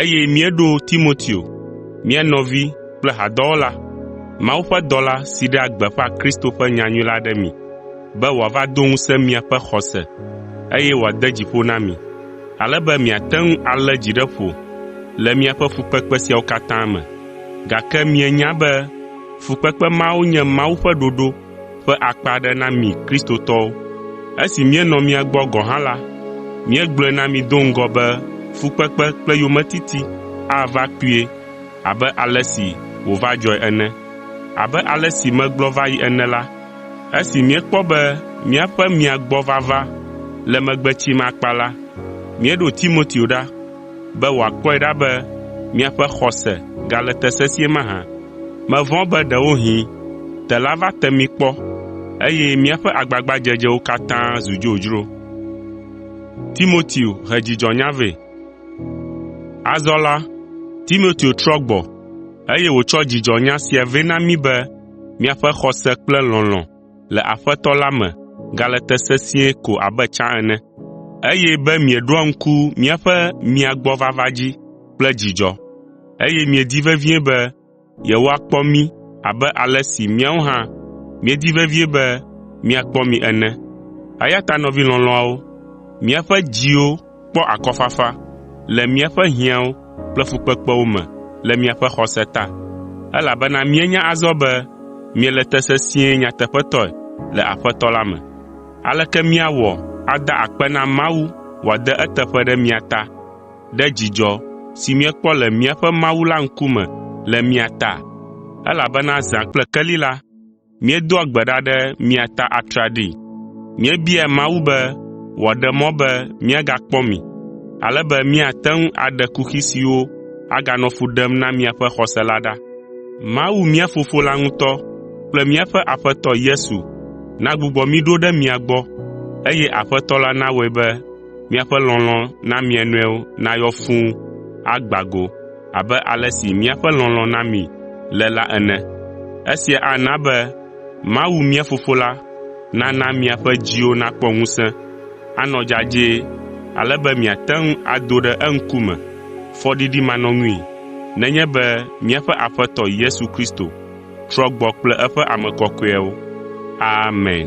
eye míeɖo Timoteo, mía nɔvi kple hadɔwɔla, Mawu ƒe dɔla si ɖea gbeƒã Kristo ƒe nyanyui la ɖe mi, be wòava do ŋusẽ miaƒe xɔse, eye wòade dzi ƒo na mi, ale be miate ŋu alé dzi ɖe ƒo le miaƒe fukpekpe siawo katã me. Gake mienya be fukpekpe mawo nye Mawu ƒe ɖoɖo ƒe akpa aɖe na mi Kristotɔwo. Esi míenɔ mia gbɔ gɔ̃ hã la, míegblɔe na mi do ŋgɔ be fukpekpe kple yometiti ava kpuie abe ale si wòva dzɔe ene. Abe ale si megblɔ va yi ene la, esi míekpɔ be míaƒe mia gbɔ vava le megbe tsim akpa la, míeɖo Timoteo ɖa, be wòakpɔe ɖa be miaƒe xɔse gale te sesĩe mahã. Mevɔ̃ be ɖewohĩ tela va te mi kpɔ, eye míaƒe agbagbadzedzewo katã zu dzodzro. Azɔ la, Timoteo trɔ gbɔ, eye wòtsɔ dzidzɔnya sia vɛ na mí be miaƒe xɔse kple lɔlɔ̃ le Aƒetɔ la me gale te sesĩe ko abe tsã ene, eye be mieɖoa ŋku míaƒe mia gbɔ vava dzi kple dzidzɔ, eye miedi vevie be yewoakpɔ mí abe ale si míawo hã míedi vevie be míakpɔ mi ene. Eya ta nɔvi lɔlɔ̃awo, míaƒe dziwo kpɔ akɔfafa le míaƒe hiãwo kple fukpekpewo me le miaƒe xɔse ta, elabena míenya azɔ be miele te sesĩe nyateƒetɔe le Aƒetɔ la me. Aleke míawɔ ada akpe na Mawu wòade eteƒe ɖe mia ta ɖe dzidzɔ si míekpɔ le míaƒe Mawu la ŋkume le mia ta? Elabena zã kple keli la, míedoa gbe ɖa ɖe mia ta atraɖii. Míebiaa Mawu be wòaɖe mɔ be míagakpɔ mi, ale be míate ŋu aɖe kuxi siwo aganɔ fu ɖem na miaƒe xɔse la ɖa. Mawu mía Fofo la ŋutɔ kple míaƒe Aƒetɔ Yesu nagbugbɔ mí ɖo ɖe mia gbɔ, eye Aƒetɔ la nawɔe be miaƒe lɔlɔ̃ na mia nɔewo nayɔ fũu agbã go. abe ale si míaƒe lɔlɔ̃ na mi le la ene. Esia ana be Mawu mía Fofo la nana miaƒe dziwo nakpɔ ŋusẽ, anɔ dzadzɛ ale be miate ŋu ado ɖe eŋkume fɔɖiɖimanɔŋui nenye be míaƒe Aƒetɔ Yesu Kristo trɔ gbɔ kple eƒe ame kɔkɔeawo. Amen.